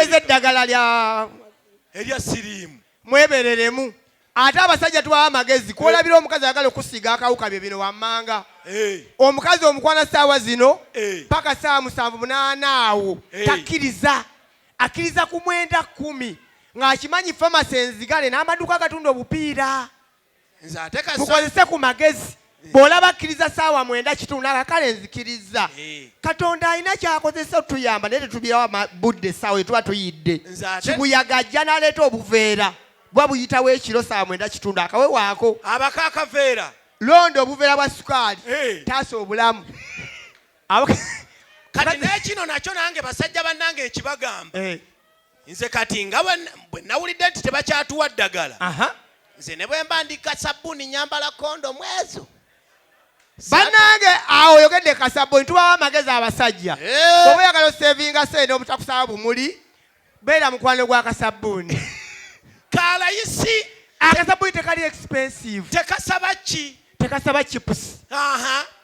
eza eddagala lya erya siriimu mwebereremu ate abasajja tubawa amagezi kwolabira eh. omukazi ayagala okusiiga akawuka bye bino wammanga eh. omukazi omukwana saawa zino eh. paka saawa musanvu munaana awo takkiriza akkiriza ku mwenda kumi ng'akimanyi famasi enzigale n'amaduuka agatunda obupiira tukozese ku magezi eh. bw'olaba akkiriza saawa mwenda kitundu naga kale nzikirizza eh. katonda alina kyakozesa otuyamba naye tetubirawo budde essaawa etuba tuyidde kibuyaga ajja n'aleeta obuveera buba buyitawo ekiro saawa mwenda kitundu akawewaako abako akaveera londa obuveera bwa sukaali eh. taasa obulamu kati nekino nakyo nange basajja bannange nkibagamba nze kati nga bwe nawulidde nti tebakyatuwa ddagala nze ne bwe mba ndi kasabbuuni nyambala kondo mwezo banange awo oyogedde kasabbuuni tubawo amagezi abasajja eh. oba oyagala osevinga sente obutakusaba bumuli beera mukwano gwa kasabbuuni kalayisi akasabbuuni tekali expensive tekasaba ki tekasaba chips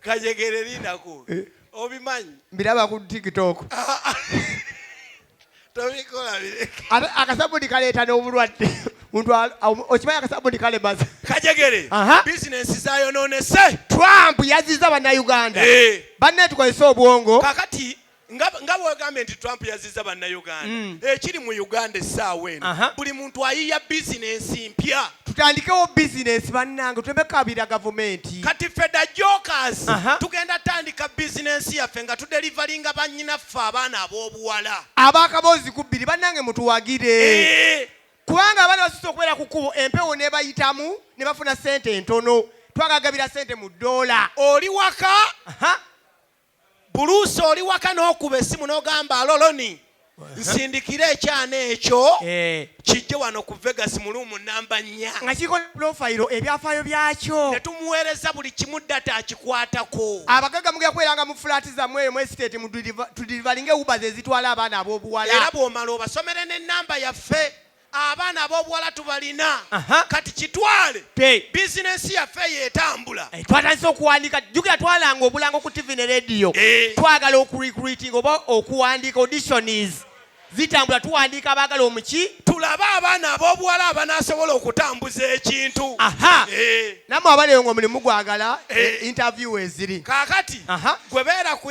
kajegere lindako eh. obimanyi mbiraba ku tiktok ah, ah. tobikola bireke ate akasabuni kaleeta n'obulwadde muntu okimanyi akasabuni kalemaza kajegere bizinensi zayononese trump yaziza bannayuganda eh. banne tukozesa obwongo kakati nga bwegambye nti trump yaziza bannayuganda mm. ekiri mu uganda essaawa eno buli muntu ayiya bizinensi mpya tutandikewo bizinensi bannange tuleme kabira gavumenti kati feda jokas tugenda tandika bizinensi yaffe nga tudelivalinga banyinaffe abaana ab'obuwala abakaboozi ku bbiri bannange mutuwagire eh. kubanga abaana basusa okubeera ku kkubo empewo nebayitamu ne bafuna sente entono twagagabira sente mu doola oli waka buluusi oli waka n'okuba essimu n'ogamba aloloni nsindikira ekyana ekyo eh. kijje wano ku vegas muluumu namba nnya nga kiriko pulofayiro ebyafaayo byakyo ne tumuweereza buli kimu data akikwatako abagaga mugenda kubeeranga mu fulaati zammwe eyo mu esiteeti tudirivalinga ewuba ze zitwala abaana ab'obuwala era bw'omala obasomere n'ennamba yaffe abaana ab'obuwala tubalina kati kitwale bizinesi yaffe eyo etambula eh, twatandise okuwandiika jukira twalanga obulango ku tivi ne rediyo eh. twagala okurecruiting oba okuwandiika auditions zitambula tuwandiika abaagala omuki tulabe abaana ab'obuwala abanaasobola okutambuza ekintu aha eh. namwe abaleyo nga omulimu gwagala interview eziri kaakati gwe beera ku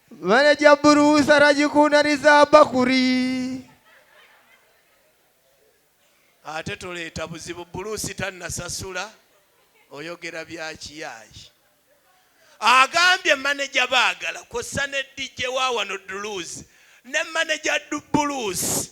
Manager Bruce aragikunariza bakuri. Ate toleeta buzibu Bruce tannasasula oyogera bya kiyaayi. Agambye manager baagala kw'ossa ne DJ wa wano Duluzi ne manager Dubuluzi.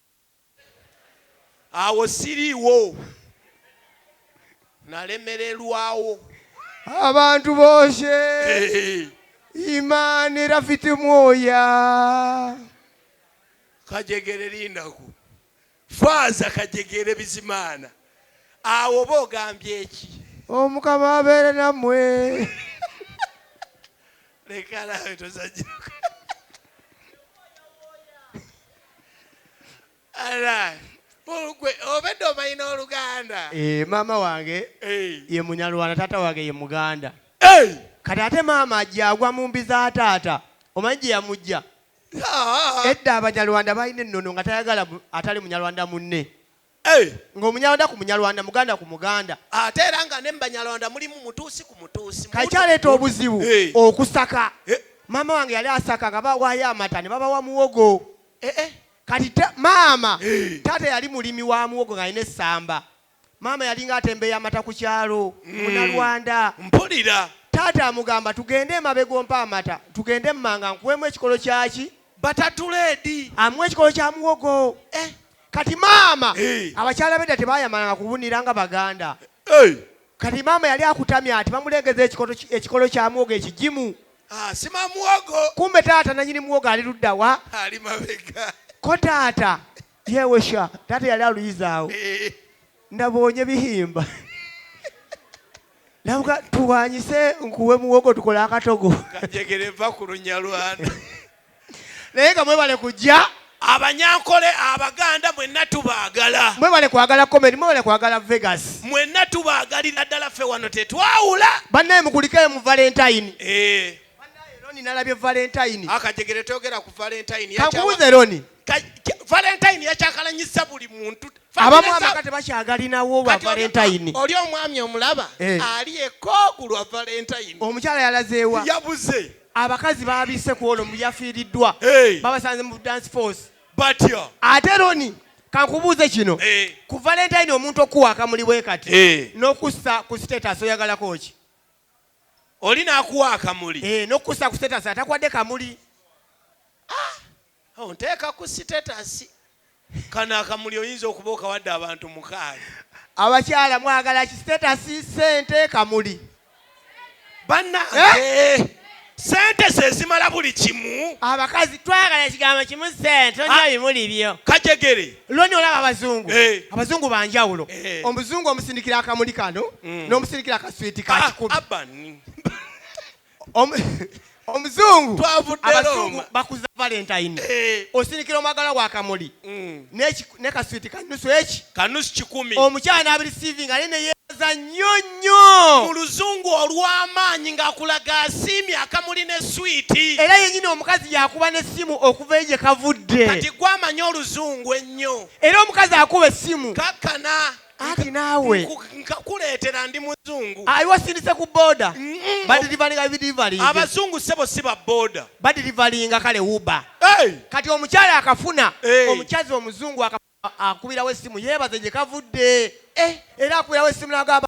awo siriiwo nalemererwawo abantu boshe imani rafiti mwoya kajegere lindaku faaza kajegere bizimaana awo oba ogambye eki omukama abeere nammwe leka nawe tozanyirako obedde omanyi n'oluganda eh, maama wange eh. ye munyalwana taata wange ye muganda eh. kati ate maama ajagwa mu mbi za taata omanyi gye yamujja ah. edda abanyarwanda balina ennono nga tayagala atali munyarwanda munne Nga omunyarwanda ku munyarwanda, muganda ku muganda. Ate era nga ne mu banyarwanda mulimu mutuusi ku mutuusi. Kati kyaleeta obuzibu okusaka. Maama wange yali asaka nga bawaayo amata ne babawa muwogo. Kati maama, taata yali mulimi wa muwogo ng'alina essamba. Maama yalinga atembeeya amata ku kyalo, munarwanda. Mpulira. Taata amugamba tugende emabega ompe amata, tugende emmanga nkuweemu ekikolo kyaki? Batatuledi. Amuwa ekikolo kya muwogo. kati maama Eh. abakyala bedda tebayamalanga kubunira nga baganda Hey. kati maama yali akutamya ati bamulengeza ekikolo ki- ekikolo kya muwogo ekigimu Ah, sima muwogo kumbe taata nanyini muwogo ali luddawa ali mabega ko taata yewesha taata yali aluyizaawo Eh, nabonye bihimba nabuga tuwanyise nkuwe muwogo tukole akatogo kajegere va ku lunyalwanda naye nga mwebale kujja abanyankole abaganda mwenna tubaagala mwebale kwagala comedi mwebale kwagala vegas mwenna tubaagalira ddala ffe wano tetwawula bannaye mukulikeyo mu valentine eh. roni nalabye valentine akajegere toyogera ku valentine kankubuze roni valentine yakyakalanyisa buli muntu abamu abaka tebakyagalinawo ba valentine oli omwami omulaba eh. ali ekooku lwa valentine omukyala yalazeewa yabuze Abakazi baabisse ku ono mu yafiiriddwa Hey. babasanze mu dance force. batya Ate Roni kankubuuze kino Eh. ku Valentine omuntu okuwa akamuli bwe kati Eh. n'okussa ku status oyagalako ki? oli n'akuwa akamuli Eh, n'okussa ku status atakwadde kamuli. Onteeka ku sitetasi. Kano akamuli oyinza okuba okawadde abantu mukaaga. Abakyala mwagala ki sitetasi, sente, kamuli? Banange sente zezimala buli kimu. Abakazi twagala ekigambo kimu sente tolina Ah. bimuli byo. Kajegere. Loni olaba abazungu Eh. abazungu banjawulo Eh. Mm. omuzungu omusindikira akamuli kano n'omusindikira akaswiti Ah, kakikumi abani. omuzungu twavudderooma bakuza valentine eh. osinikira omwagala wa kamuli mm. ne kaswiti kanusu eki kanusu kikumi omukyala n'abirisiivinga naye neyeeza nnyo nnyo mu luzungu olw'amaanyi ng'akulaga asiimye akamuli ne switi era yennyini omukazi yakuba n'essimu okuva eyo gye kavudde kati gwamanya oluzungu ennyo era omukazi akuba essimu kakkana anti naawe nkakuleetera ndi muzungu ayiwasinise ku boda badirivalinga bidirivalinga abazungu sebo si ba boda badirivalinga kale uba kati omukyala akafuna omukyazzi omuzungu akubirawo essimu yeebaze gye kavudde eh, era akubirawo essimu nagamba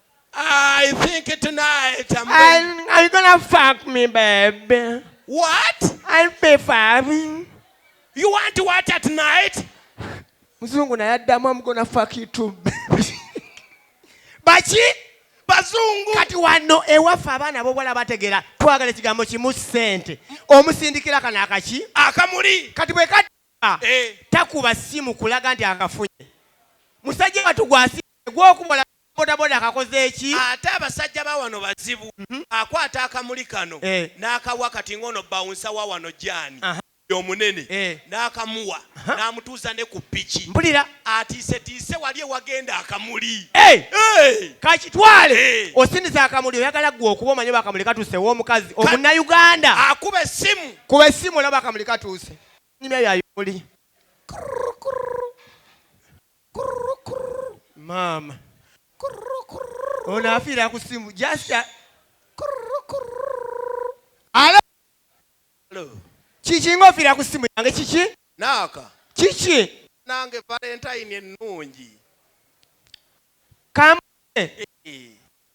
I think tonight I'm going. Are you gonna fuck me, baby? What? I pay for me. You want to what at night? Mzungu na yadamu I'm gonna fuck you too. Bachi bazungu kati wano ewaffe abaana bobwala bategera twagala ekigambo kimu sente omusindikira kana akaki akamuli kati bwe kati eh. takuba simu kulaga nti akafunye musajja watu gwasi gwokubola bodaboda akakoze ki? Ate abasajja bawano bazibu akwata akamuli kano nakawa kati ngono bouncer wawano Jan ye omunene nakamuwa namutuuza ne ku piki atiisetiise wali ewagenda akamuli eeh kakitwale eeh osindize akamuli oyagala gwe okuba omanyi oba akamuli katuuse ewomukazi omunayuganda akuba essimu kuba essimu olabe akamuli katuuse nyumya ya bimuli kurr kurr. maama ono afiira ku simu jasita alo kiki nga ofiira ku simu yange kiki naaka kiki nange valentine ennungi kamune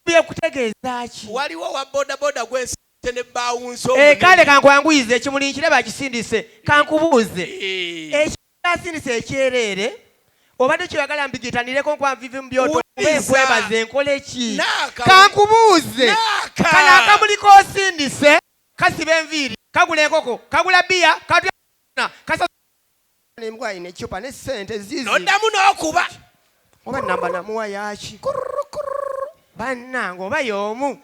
bye kutegeeza ki waliwo wa bodaboda gwensi ne bawunso eh, kale kankwanguyize ekimuli nkiraba akisindise kankubuuze eh. Nasirise ekyereere obadde kyoyagala mbigitanireko nkwanvive mu byoto nkwebaze nkole ki kankubuuze kano akamuli kosindise kasiba enviiri kagula enkoko kagula biya katna kasa nembwa alina ecupa ne sente zizi noddamu n'okuba oba namba namuwa yaki bannange oba y'omu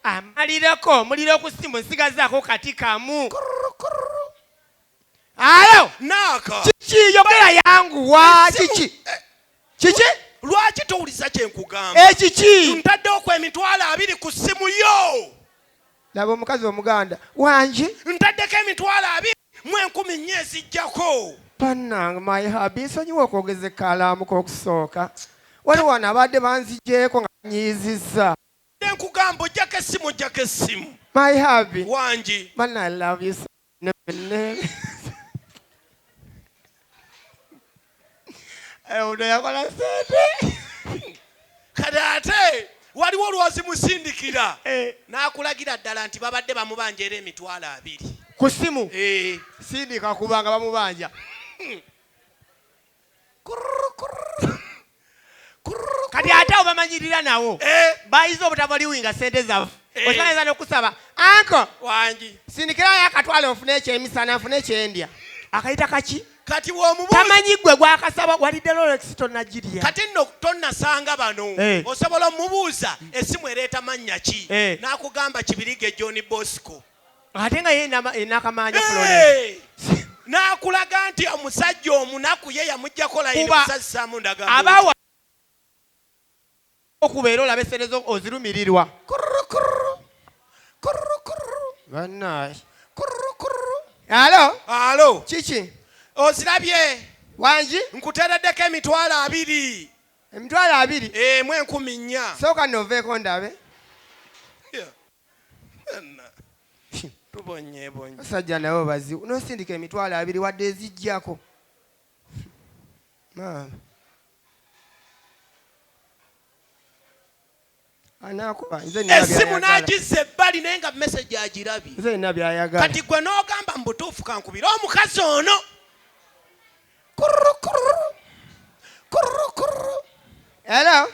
amalireko omuliro ku simu nsigazaako kati kamu alo naaka kiki yogera yanguwa kiki eh, kiki lwaki towuliza kyenkugamba ekiki ntaddewo ku emitwalo abiri ku ssimu yo laba omukazi omuganda wangi ntaddeko emitwalo abiri mu enkumi nnya ezijjako bannange my habi nsonyiwa okwogeza ekkalaamu k'okusooka waliwo wano abadde banzigyeko nga banyiizizza enkugamba ojjako essimu ojjako essimu my habi wangi banna love you omuntu yakola sente kati ate waliwo olwozimusindikira eh. n'akulagira ddala nti babadde bamubanja era emitwalo abiri ku simu eh. sindika kubanga bamubanja kati ate obamanyirira nawo eh. bayiza obutabaliwinga sente zafe eh. okimanyiza nokusaba anko wangi sindikirayo akatwalo nfune ekyemisana nfune ekyendya akayita kaki kati womubuutamanyi gwe gwakasaba walidde lolex tonagirya kati nno tonasanga bano eh. osobola omubuuza esimu ereeta mannya ki nakugamba kibirige john bosco ate nga ye nakamanja florence n'akulaga nti omusajja omunaku ye yamujjako layinisazisamu ndagaokuba era olabe sente zo ozirumirirwa banaye alo alo kiki ozirabye wangi nkutereddeko emitwalo abiri emitwalo abiri emu eh, enkumi nnya sooka noveeko ndabe basajja nabo bazibu nosindika emitwalo abiri wadde ezijjako maama esimu nagiza ebbali naye nga mesage agirabye kati gwe nogamba mubutuufu kankubire omukazi ono Hello.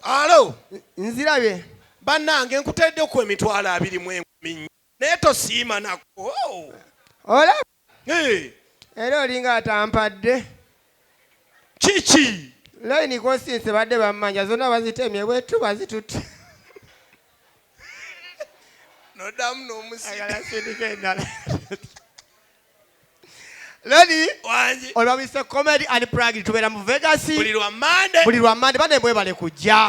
Alo. Nzirabye. Bannange nkuteedde ku emitwalo abiri mu enkumi nnya naye tosiima nako. Oh. Ola. Era olinga atampadde. Kiki? Layini kosinse badde bammanja zonna bazitemye bwetu bazitutte. Nodamu n'omusika. Ayala sindika endala. Lady wangi. Oyo bamuyise comedy and prank tubera mu Vegas. Buli lwa Monday. Buli lwa Monday bane bwebale kujja.